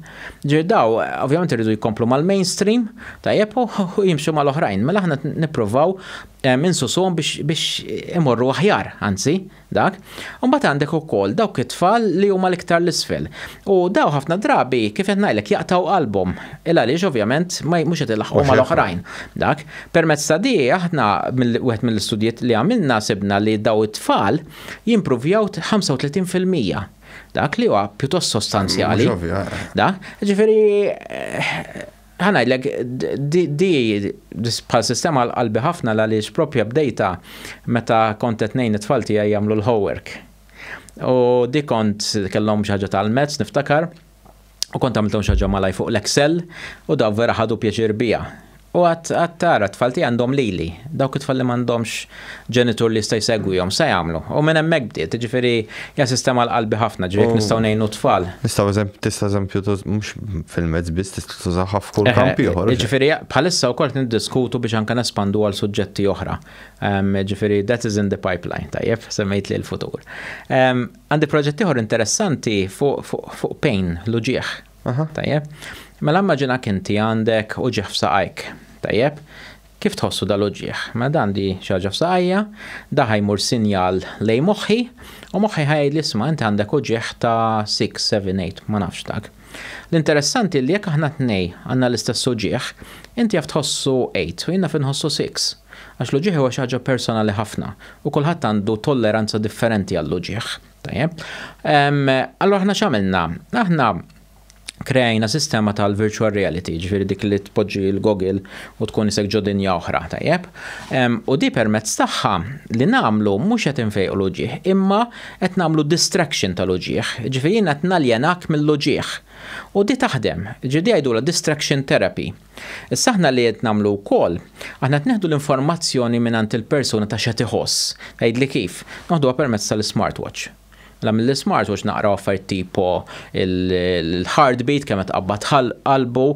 Ġifieri dawn ovvjament iridu jkomplu mal-mainstream, tajjeb, u jimxu mal-oħrajn. Mela aħna nippruvaw insusuhom biex imorru aħjar, anzi, dak. U mbagħad għandek ukoll dawk it-tfal li huma l-iktar 'l isfel. U dawn ħafna drabi, kif qed ngħidlek, jaqtgħu qalbhom. Il-għaliex ovvjament mhux qed ilaħħqu mal-oħrajn. Dak. Permezz ta' di aħna wieħed mill-istudji li għamilna sibna li dawn it-tfal jimpruvjaw 35 fil-mija. Dak li huwa pjuttost sostanzjali. Da, ġifieri ħanajdlek di bħal sistema għal-qalbi ħafna għaliex propja bdejta meta kont qed ngħin it-tfal tiegħi jagħmlu l-homework. U di kont kellhom xi ħaġa tal-mezz niftakar. u kont għamilthom xaġa malaj fuq l-Excel u daw vera ħadu pjaċir bija. U għat għat tara tfal tiegħi għandhom lili, dawk it-tfal li m'għandhomx ġenitur li jista' jsegwihom sa jagħmlu. U minn hemmhekk bdiet, jiġifieri hija sistema għal qalbi ħafna, ġifieri jekk nistgħu ngħinu t-tfal. Nistgħu eżempju tista' eżempju mhux fil-mezz biss tista' tużaha f'kull kamp ieħor. Ġifieri bħalissa wkoll niddiskutu biex anke nespandu għal suġġetti oħra. Ġifieri that is in the pipeline, tajjeb, semmejt li l-futur. Għandi proġett ieħor interessanti fuq fu, fu pain, l-uġieħ. Tajjeb. Mela immaġina kinti għandek uġieħ f'saqajk. Tajjeb. Kif tħossu dal-uġieħ? Ma mela, dan di xaġa f'saqajja, da ħajmur sinjal lej moħħi, u moħħi ħajd li sma inti għandek uġieħ ta' 6, 7, 8, ma nafx dak. L-interessanti li jekk aħna tnej għandna l-istess uġieħ, inti jaf tħossu 8 u jina finħossu 6. Għax l-uġigħ huwa xi ħaġa personali ħafna u kulħadd għandu tolleranza differenti għall-uġigħ. Tajjeb. Allura aħna x'għamilna? Aħna krejna sistema tal-virtual reality, ġifiri dik li tpoġġi l-gogil u tkun isek ġodinja oħra, tajjeb. U di permezz tagħha li namlu mhux qed infejqu l-uġieħ, imma qed namlu distraction tal-uġieħ, ġifiri qed naljenak mill-uġieħ. U di taħdem, ġidi għajdu distraction therapy. Issa aħna li qed nagħmlu wkoll, aħna qed nieħdu l-informazzjoni mingħand il-persuna ta' x'qed iħoss. Tgħidli kif? Noħduha permezz tal-ismartwatch. Mela mill-ismartwatch naqraw affarijiet tipo l-heartbeat, kemm qed tqabbad qalbu,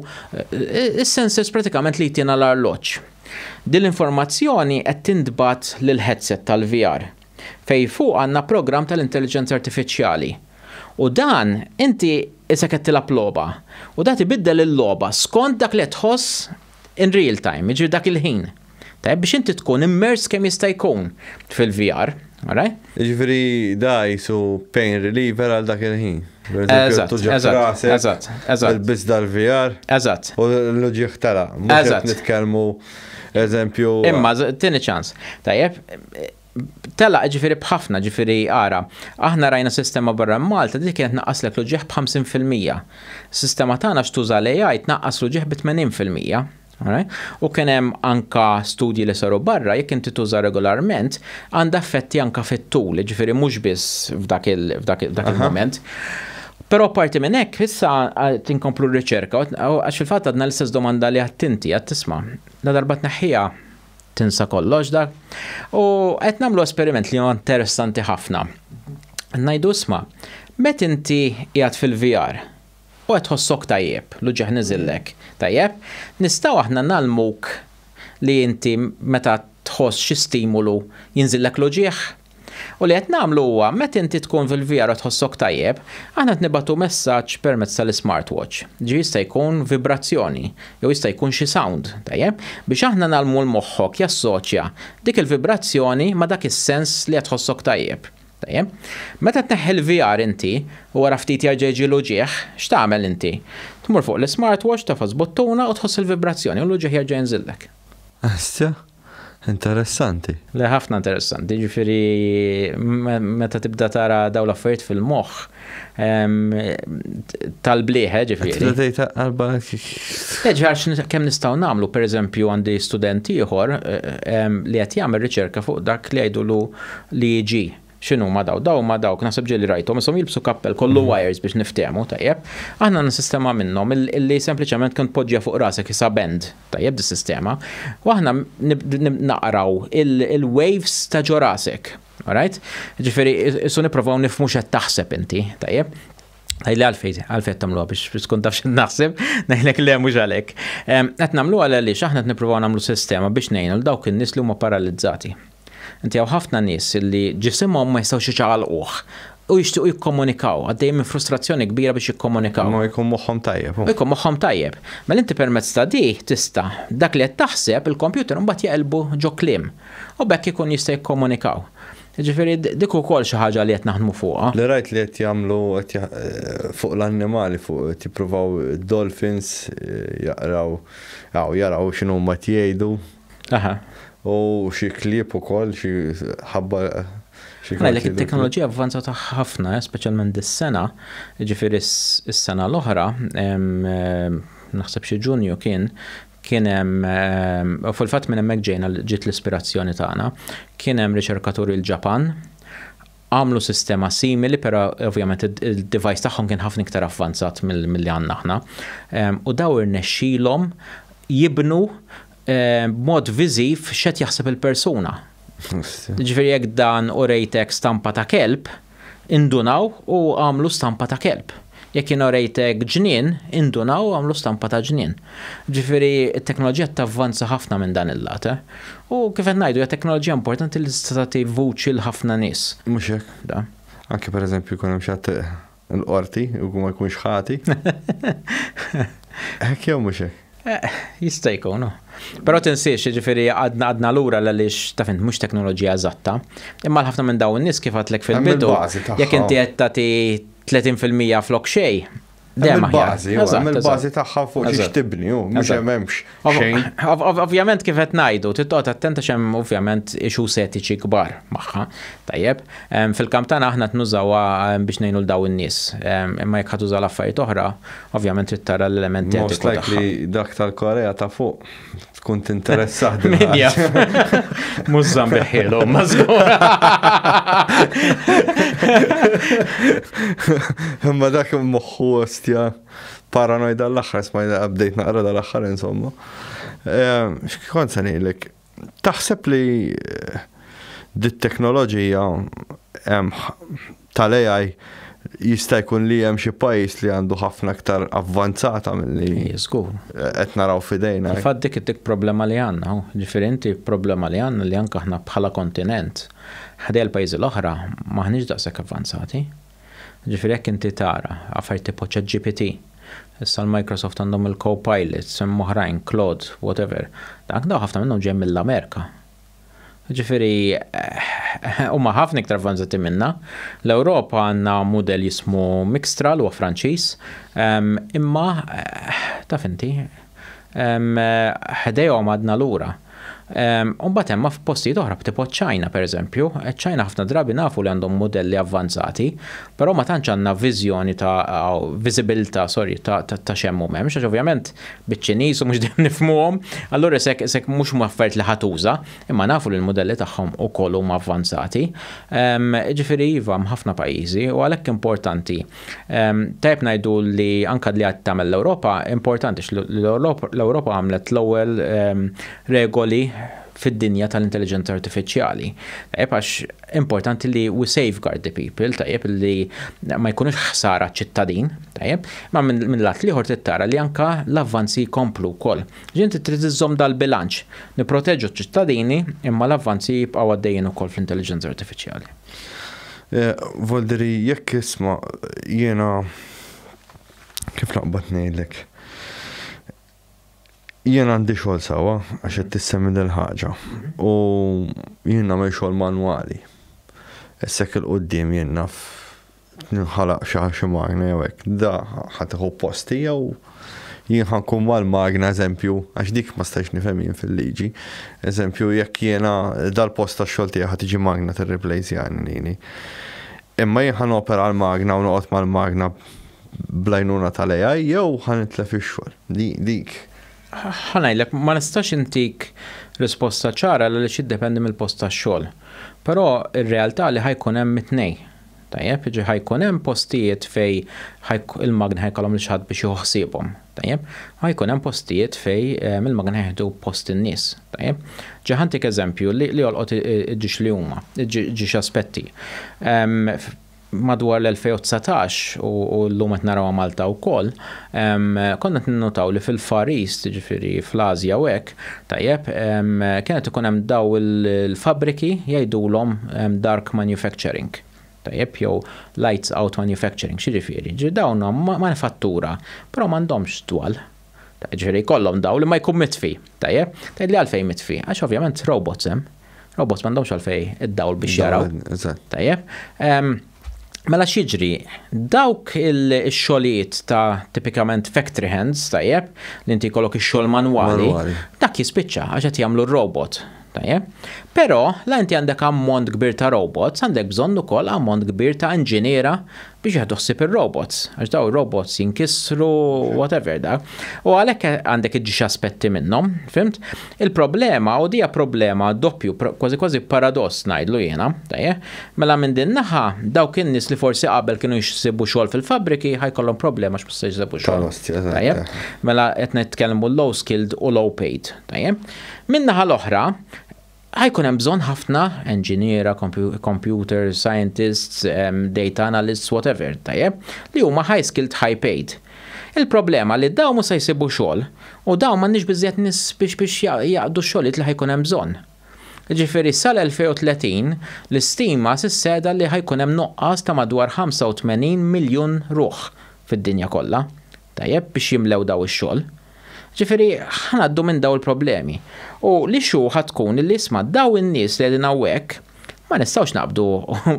is-sensors pratikament li jtina l-arloġġ. Din l-informazzjoni qed tintbagħat lill-headset tal-VR. fejn fuq għandna programm tal-intelliġenza artifiċjali. U dan inti isek qed tilgħab logħba. U dat ibiddel il-logħba skont dak li qed tħoss in real time, jiġifieri dak il-ħin. Tajjeb biex inti tkun immerse kemm jista' jkun fil-VR. Alright? Jiġifieri da qisu pain reliever għal dak il-ħin. Eżatt, eżatt, eżatt. Ilbiss dal-VR. Eżatt. U l-uġigħ telaq. Mhux qed nitkellmu. Eżempju. Imma, tini ċans. Tajjeb, tela ġifiri bħafna ġifiri għara. Aħna rajna sistema barra Malta dik kienet naqqas l ġieħ b'50%. Sistema tagħna x'tuża l-AI tnaqqas l ġieħ b'80%. U kien hemm anka studji li saru barra jekk inti tuża regolarment għandha effetti anka fit-tul, ġifiri mhux biss f'dak il-moment. Però apparti minn hekk, issa qed inkomplu r-riċerka għax fil-fatt għadna l-istess domanda li għadt inti, għadt tisma'. Ladarba tneħħiha tinsa kollox dak. U qed nagħmlu esperiment li huwa interessanti ħafna. Ngħidu isma', met inti qiegħed fil-VR u qed tħossok tajjeb, l-uġieħ niżillek, tajjeb, nistgħu aħna ngħallmuk li inti meta tħoss xi stimulu jinżillek l-uġieħ? U li qed nagħmlu huwa meta inti tkun fil-VR u tħossok tajjeb, aħna qed nibgħatu messaġġ permezz tal-ismartwatch. Ġifieri jista' jkun vibrazzjoni, jew jista' jkun xi sound, tajjeb? Biex aħna ngħallmu 'l moħħok jassoċja dik il-vibrazzjoni ma' dak is-sens li qed tħossok tajjeb. Tajjeb? Meta tneħħi l-VR inti, u wara ftit jerġa' jiġi l-uġigħ, x'tagħmel inti? Tmur fuq l-ismartwatch, tagħfas buttuna u tħoss il-vibrazzjoni u l-uġigħ jerġa' jinżillek. Issa, Interessanti. Le ħafna interessanti, ġifieri meta tibda tara dawn l-affarijiet fil-moħħ tal-blieħe ġifieri. Tibda tgħid qalba. Eġħar kemm nistgħu nagħmlu, pereżempju għandi student ieħor li qed jagħmel riċerka fuq dak li jgħidulu l-EEG. X'inhuma dawn? Dawn huma dawk, naħseb ġieli rajthom, ishom jilbsu kappell kollu wires biex niftehmu, tajjeb. Aħna għandna sistema minnhom li sempliċement kemm tpoġġiha fuq rasek isha band, tajjeb dis-sistema, u aħna naqraw il-waves ta' ġo rasek. Alright? Ġifieri issu nipprovaw nifhmu x'qed taħseb inti, tajjeb. Għajli għalfej, għalfej tamluwa biex tkun taf xin naħseb, naħlek le mux għalek. Għet namluwa għal li xaħna t-niprofaw namlu sistema biex nejn l-dawk il-nis li huma paralizzati. Inti hawn ħafna nies li ġisimhom ma jistgħux iċaqalquh u jixtiequ jikkomunikaw, għaddejjin minn frustrazzjoni kbira biex jikkomunikaw. Imma jkun moħħhom tajjeb. U jkun moħħhom tajjeb. Mela inti permezz ta' di tista' dak li qed taħseb il-kompjuter imbagħad jeqilbu ġo kliem u b'hekk ikun jista' jikkomunikaw. Jiġifieri dik ukoll xi ħaġa li qed naħdmu fuqha. Li rajt li qed jagħmlu fuq l-annimali fuq qed jippruvaw id-dolphins jaqraw jaraw x'inhuma qed jgħidu. Aha. U xi klieb ukoll, xi ħabbar xi Għalhekk kartielu. it-teknoloġija avvanzat ħafna, eh, speċjalment dis-sena, jiġifieri s- is-sena l-oħra, em, em, naħseb xi Ġunju kien, kien hemm, em, u fil-fatt minn hemmhekk ġejna, ġiet l-ispirazzjoni tagħna, kien hemm riċerkaturi l-Ġapan, għamlu sistema simili però ovvjament id-device tagħhom kien ħafna iktar avvanzat milli għandna aħna. Ehm, u daw irnexxilhom jibnu ehm, b'mod viżiv x'qed jaħseb il-persuna. Ġifieri jekk dan u rejtek stampa ta' kelb, indunaw u għamlu stampa ta' kelb. Jekk jien orejtek ġnien, indunaw u għamlu stampa ta' ġnien. Ġifieri, it-teknoloġija tavvanza ħafna minn dan il-lat. U, kif qed ngħidu, hija teknoloġija importanti li tista' tagħti vuċi 'l ħafna nies. Mhux hekk, da. Anke pereżempju jkun hemm xi ħadd il-Qorti u ma jkunx ħati. Hekk jew mhux hekk? Eh, jista' jkun. Però tinsiex, jiġifieri għadna għadna lura għaliex ta' fint mhux teknoloġija eżatta. Imma l-ħafna minn dawn in-nies kif għadlek fil-bidu, jekk inti qed tagħti 30% flok xej. Dejjem bażi, il-bażi tagħha fuq xiex tibni, mhux hemmx xejn. Ovvjament kif qed ngħidu, titqgħod attenta x'hemm ovvjament ixu setiċi kbar magħha. Tajjeb, fil-kamp tagħna aħna tnużawha biex ngħinu l daw in-nies. Imma jekk ħatuża l-affarijiet oħra, Ovvjament trid tara l-element etiku. Most likely dak tal-Korea ta' fuq tkun tinteressah din. Min jaf. Mhux żambiħielu, ma żgur. Imma dak moħħu ostja paranoid għall-aħħar smajna update naqra dal-aħħar insomma. Ehm, x'kont se ngħidlek? Taħseb li dit-teknoloġija tal-AI jista' jkun li hemm xi pajjiż li għandu ħafna iktar avvanzata milli qed naraw f'idejna? Fil-fatt dik it-tik problema li għandna. Ġifieri inti problema li għandna li anke aħna bħala kontinent ħdejja l-pajjiżi l-oħra m'aħniex daqshekk avvanzati. Ġifieri jekk inti tara affarijiet tipo ChatGPT, issa l-Microsoft għandhom il-Copilot, hemm oħrajn, Claude, whatever, dak dawn ħafna minnhom ġejjin mill-Amerika. Ġifieri huma ħafna iktar avvanzati minna. L-Ewropa għandna mudell jismu Mixtral huwa Franċiż, ehm, imma taf inti, ħdejhom għadna lura. U mbagħad hemm f'postijiet oħra b'tipo ċ-Ċina pereżempju, ċ-Ċina ħafna drabi nafu li għandhom mudelli avvanzati, però ma tantx għandna viżjoni ta' viżibilità, sorry, ta' x'hemm u m'hemmx, għax ovvjament biċ-Ċiniż u mhux dejjem nifhmuhom, allura isek mhux huma affarijiet li ħa tuża, imma nafu li l-mudelli tagħhom ukoll huma avvanzati. Jiġifieri iva hemm ħafna pajjiżi u għalhekk importanti Tajjeb ngħidu li anke li qed tagħmel l-Ewropa importanti l-Ewropa għamlet l-ewwel regoli fid-dinja tal-intelligenza artifiċjali. Tajjeb għax importanti li we safeguard the people, tajjeb li ma jkunux ħsara ċittadin, tajjeb, ma minn lat liħor tittara li anka l-avvanzi jkomplu wkoll. Ġinti trid iżżomm dal-bilanċ, nipproteġu ċ-ċittadini imma l-avvanzi jibqgħu għaddejjin ukoll fl-intelligenza artifiċjali. Volderi, jekk isma', jiena, kif naqbad ngħidlek, jiena għandi xogħol sewwa għax qed tissemmi dil-ħaġa u jien nagħmel xogħol manwali. Issa hekk 'il quddiem jien naf tinħalaq xi xi magna jew hekk, da ħa tieħu posti jew? Jien ħa nkun mal-magna, eżempju, għax dik ma stajtx nifhem jien fil-liġi, eżempju, jekk jiena dal-post tax-xogħol tiegħi ħa tiġi magna tirriplejsjani lili. Imma jien ħa nopera l-magna u noqgħod mal-magna bl-għajnuna tal-AI jew ħa nitlef ix-xogħol. Dik. Ħa ngħidlek, ma nistax intik risposta ċara għaliex jiddependi mill-post tax-xogħol. Però r-realtà li ħa jkun hemm it-tnejn. Tajjeb, jiġifieri ħa jkun hemm postijiet fejn il-magni ħa jkollhom lil xi ħadd biex jieħu ħsiebhom. Tajjeb? Ħa jkun hemm postijiet fejn il-magni ħa jieħdu post in-nies. Tajjeb? Ġa ħa ntik eżempju li jolqot iġġiex li huma, iġġiex aspetti. Madwar l-2019, u llum qed narawha Malta wkoll, konna qed ninnutaw li fil-Far East, jiġifieri fl-Ażja u hekk, Tajjeb, kienet ikun hemm daw il-fabbriki jgħidulhom dark manufacturing, tajjeb, jew lights out manufacturing, x'jiġifieri? Jiġifieri dawn huma manifattura, però m'għandhomx dwal. Jiġifieri jkollhom dawl imma jkun mitfi, tajjeb. Tgħidli għalfejn mitfi? Għax ovvjament robots hemm. Robots m'għandhomx għalfejn id-dawl biex jaraw. Dawl, eżatt. Tajjeb. Mela x'jiġri? Dawk il-xogħlijiet ta' tipikament factory hands, tajjeb, li inti jkollok ix-xogħol manwali, dak jispiċċa għax qed jagħmlu r-robot. Tajjeb. Però la inti għandek ammont kbir ta' robots, għandek bżonn ukoll ammont kbir ta' inġiniera biex jieħdu ħsieb ir-robots, għax daw ir-robots jinkisru, whatever dak. U għalhekk għandek iġġiex aspetti minnhom, fimt? Il-problema, u di hija problema doppju, kważi kważi paradoss ngħidlu jiena, tajjeb, mela minn din naħa dawk in-nies li forsi qabel kienu jsibu xogħol fil-fabbriki ħa jkollhom problema għax ma se jsibu xogħol. Tajjeb? Mela qed nitkellmu low skilled u low paid, tajjeb? Minn naħa l-oħra, ħajkun hemm bżonn ħafna enġiniera, computer scientists, data analysts, whatever, tajjeb, li huma high skilled, high paid. Il-problema li dawn mhux se jsibu xogħol u dawn m'għandniex biżżejjed nies biex jaqdu x-xogħlijiet li ħa jkun hemm bżonn. Jiġifieri sal-2030 l-istima sissegħda li ħa jkun hemm nuqqas ta' madwar 85 miljun ruħ fid-dinja kollha, tajjeb, biex jimlew dawn ix-xogħol. Ġifieri, ħa ngħaddu minn dawn il-problemi. U l-issue ħa tkun li isma' dawn in-nies li qegħdin hawnhekk ma nistgħux naqbdu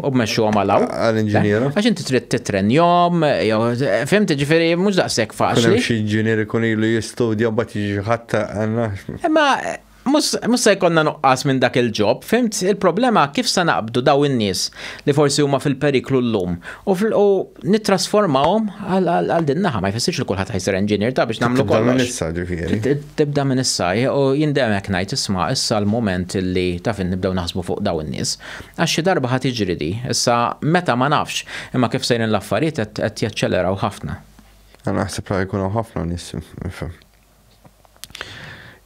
u mmexxuhom għal hawn. Għal inġiniera. Għax inti trid titrenjhom, jew fimti ġifieri mhux daqshekk faċli. Xi inġinier ikun ilu jistudja mbagħad jiġi ħadd għandna. Imma Mhux se jkollna nuqqas minn dak il-ġob, fhimt? Il-problema kif se naqbdu dawn in-nies li forsi huma fil-periklu llum u nittrasformawhom għal din naħa. Ma jfissirx li kulħadd ħajsir engineer ta' biex nagħmlu kollox. Tibda minn issa ġifieri. Tibda minn issa u jien dejjem hekk ngħid isma' issa l-mument li taf nibdew naħsbu fuq dawn in-nies. Għax xi darba ħa tiġri di. Issa meta ma nafx, imma kif sejrin l-affarijiet qed jaċċeleraw ħafna. Naħseb li ħajkun hawn ħafna nies,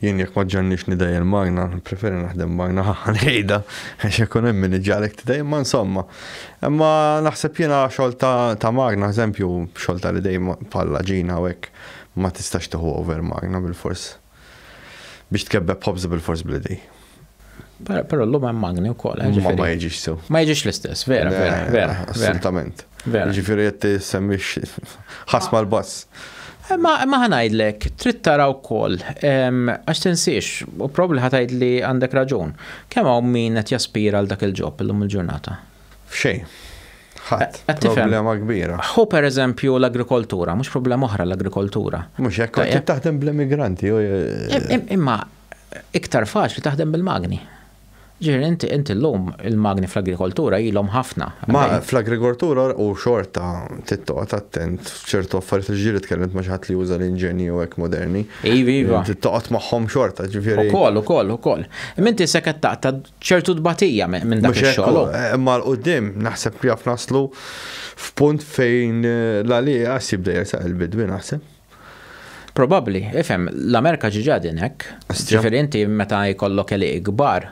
Jien jekk ma ġġannix nidejjer magna, preferi naħdem magna ħanejda, għax ikun hemm min iġġalek tidejjem, ma insomma. Imma naħseb jiena xogħol ta' magna, eżempju, xogħol ta' l-idej bħal ġina u hekk, ma tistax tieħu over magna bil-fors. Biex tkebbeb ħobż bil-fors bl-idej. Però l-lum hemm magni wkoll. Eh, ma ma jiġix sew. Ma jiġix l-istess, vera, vera, vera. Assolutament. Ġifieri qed tissemmix ħasma l-bass. Eh, ma ħanajdlek, trid tara wkoll, għax tinsiex, u probli ħatajd li għandek raġun. Kemm hawn min qed jaspira għal dak il-ġob illum il-ġurnata? F'xejn. Ħadd. Eh, problema kbira. Hu per eżempju l-agrikoltura, mhux problema oħra l-agrikoltura. Mhux hekk qed taħdem bl-immigranti. Imma iktar faċli taħdem bil-magni. Ġifieri inti inti llum il-magni fl-agrikoltura ilhom ħafna. Ma fl-agrikoltura u xorta tittoqgħod attent f'ċertu affarijiet li ġieli tkellimt ma' xi ħadd li juża l-inġenji u hekk moderni. Iva, iva. Tittoqgħod magħhom xorta, ġifieri. Ukoll, ukoll, ukoll. Imma inti se qed taqta' ċertu tbatija minn dak ix-xogħol. Imma l quddiem naħseb jaf naslu f'punt fejn l-għalieqas jibda jersaq il-bidwi naħseb. Probabbli, ifhem, l-Amerika ġiġa din hekk. Ġifieri inti meta jkollok eliq kbar,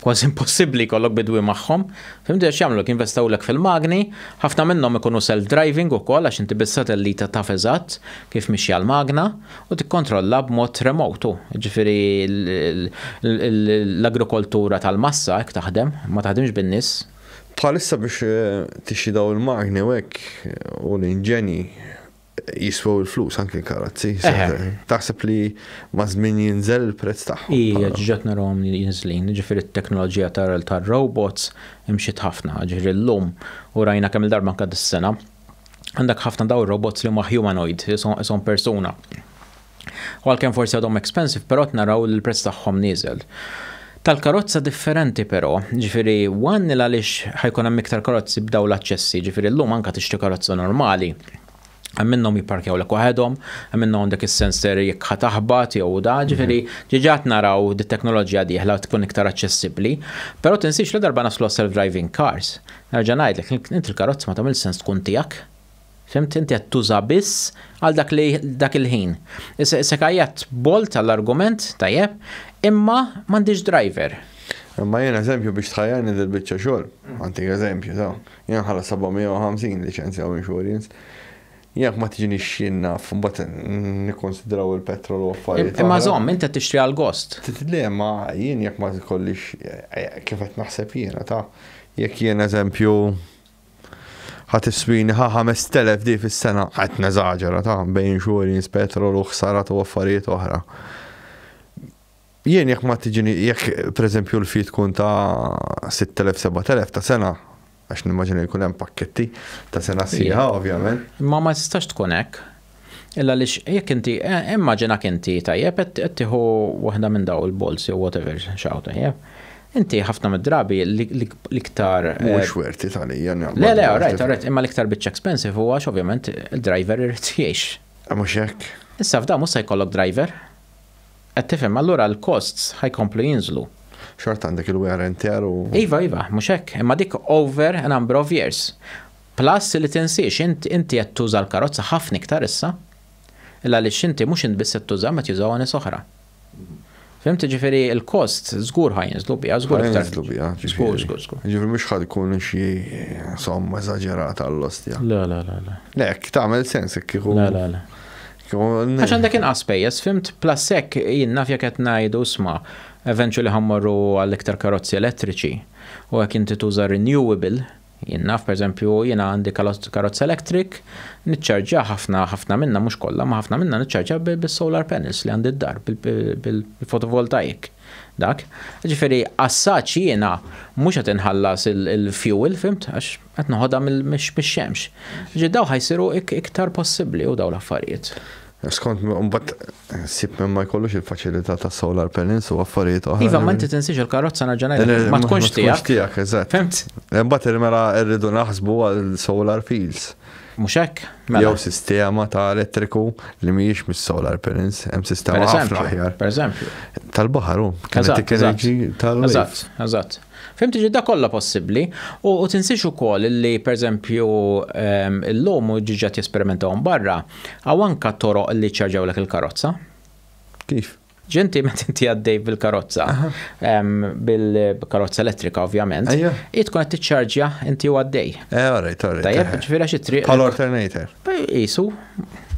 kważi impossibbli jkollok bidwi magħhom. Fimti għax jagħmluk jinvestewlek fil-magni, ħafna minnhom ikunu self-driving ukoll għax inti bis-satellita taf eżatt kif mixja l-magna u tikkontrolla b'mod remote hu. Ġifieri l-agrikoltura tal-massa hekk taħdem, ma taħdimx bin-nies. Bħalissa biex tixtri dawn il-magni u hekk u l-inġenji Jiswew il-flus anki l-karozzi. Taħseb li maż-żmien jinżel il-prezz tagħhom? Ija, ġġat narahom jinżlin. Ġifieri t-teknoloġija tar-robots imxiet ħafna. Ġifieri llum, u rajna kemm-il darba anke dis-sena, għandek ħafna dawn ir-robots li huma humanoid, ishom persuna. u għalkemm forsi għadhom expensive però qed naraw li l-prezz tagħhom nieżel. Tal-karozza differenti però, ġifieri one il għaliex ħajkun hemm iktar karozzi b'dawn l-aċċessi, ġifieri llum anke tixtri karozza normali, hemm minnhom jipparkjawlek waħedhom, hemm minnhom għandek is-sensor jekk ħa taħbat jew da, ġifieri diġà qed naraw li t-teknoloġija dieħla tkun iktar aċċessibbli. Però tinsiex ladarba naslu għas-self-driving cars, nerġa' ngħidlek, int il-karozza ma tagħmilx sens tkun tiegħek. Fhimt inti qed tuża biss għal dak li dak il-ħin. Issa kajjatt bolt għall-argument, tajjeb, imma m'għandix driver. Imma jien eżempju biex tħajjarni dil-biċċa xogħol. Għantik eżempju, sew. Jien nħallas 750 liċenzja u insurance. Jekk ma tiġinix x'jien naf, mbagħad nikkonsidraw il-petrol u affarijiet. Imma żomm, inti qed tixtri għal gost. Le, ma jien jekk ma tkollix eh, kif qed naħseb jiena ta' jekk jien eżempju Ħa tiswini ħa 5000 di fis-sena, qed neżaġera ta' bejn insurance, petrol u ħsarat u affarijiet oħra. Jien jekk ma tiġini, jekk pereżempju l-fi tkun ta' 6000-7000 ta' sena, għax nimmaġina jkun hemm pakketti ta' sena sieħa, ovvjament. Ma ma tistax tkun hekk. Illa għaliex jekk inti, eh, immaġinak inti tajjeb qed tieħu waħda minn daw il-balls jew whatever xaw tajjeb. Inti ħafna mid-drabi l-iktar. Eh, Mhux werti tal-ija. Le, le, rajt, rajt, imma l-iktar bitch expensive huwa ovvjament il-driver irid jgħix. Ah, mhux hekk. Issa f'da mhux se jkollok driver. Qed tifhem, allura l-costs ħajkomplu jinżlu. Xort għandek il-wear and tear u. Iva, iva, mhux hekk, imma dik over a number of years. Plus li tinsiex, int inti qed tuża l-karozza ħafna iktar issa, il għaliex inti mhux int biss qed tuża ma qed jużawha nies oħra. Fhimt, jiġifieri l-cost żgur ħa jinżlu biha, żgur iktar. Ħa jinżlu biha, żgur, żgur, żgur. Jiġifieri mhux ħa tkun xi somma eżaġerata għall-ostja. Le, le, le, le. Le, hekk tagħmel sens hekk kieku. Le, le, le. Għax għandek inqas pejjeż, fimt, plus hekk jien naf jekk qed ngħidu sma, eventually ħammorru għal iktar karozzi elettriċi u hekk inti tuża renewable, Jien naf, pereżempju, jiena għandi karozza electric, niċċarġja ħafna ħafna minnha mhux kollha, ma ħafna minnha niċċarġja bis-solar panels li għandi d-dar, bil-fotovoltaik. Dak. Ġifieri assaġġ jiena mhux qed inħallas il-fuel, fimt, għax qed noħodha mix-xemx. Ġi daw ħajsiru iktar possibbli u daw l-affarijiet. Skont mbagħad sib minn ma jkollux il-faċilità ta' solar panels u affarijiet oħra. Iva, ma inti tinsiex il-karozza nerġa' ngħidlek ma tkunx tiegħek. Tiegħek, eżatt. Fimt? Imbagħad il-mela rridu naħsbu għal solar fields. Mhux hekk? Mela. Jew sistema ta' elettriku li mhijiex mis-solar panels, hemm sistema ħafna aħjar. Per eżempju. Tal-baħar hu. Eżatt. Eżatt. Eżatt. Fim tiġi dak kollha possibbli u u tinsiex ukoll li perżempju ehm, illum u ġiġat jesperimentaw barra, hawn anka toroq li ċċarġawlek il-karozza. Kif? Ġenti meta inti għaddej bil-karozza, bil-karozza elettrika ovvjament, i tkun qed tiċċarġja inti u għaddej. Eh, alright, alright. Tajjeb, ġifieri xi triq. Bħal alternator. Isu,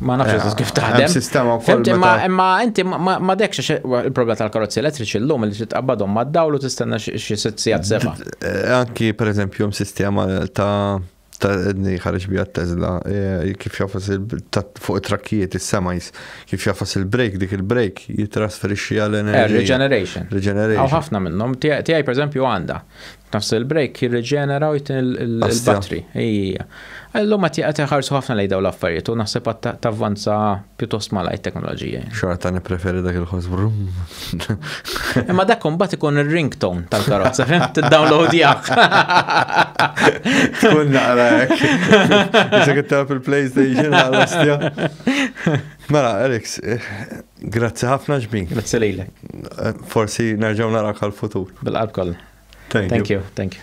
Ma nafx eżatt kif taħdem. Hemm sistema wkoll. Fimti, ma- imma inti ma- ma ma dekx għax il-problema tal-karozzi elettriċi llum li titqabbadhom mad-dawl u tistenna xi xi sitt sigħat seba'. Eh, Anki per eżempju hemm sistema ta' ta' edni ħareġ bija Tesla eh, kif jafas il- ta' fuq it-trakkijiet is-semajs kif jafas il-break dik il-break jitrasferixxi għal Eh, enerġija. Regeneration. Regeneration. Għaw ħafna minnhom. Tiegħi per eżempju għandha. Nafs il-break jirriġenera u jtin il-battery. Ija. Illum għat jgħat jħarsu ħafna lejda u l-affarijiet u naħseb għat tavvanza pjuttost malaj teknoloġija. Xorta nipreferi dak il-ħos brum. Imma dak kumbat ikun il-ringtone tal-karozza, fim t-download jgħak. Tkun naqra jek. Issa kittab il-PlayStation għal-ostja. Mela, Eriks, eh, Grazzi ħafna ġbin. Grazzi lilek. Forsi nerġgħu narak għal-futur. Bil-qalb kollha. Thank you. Thank you.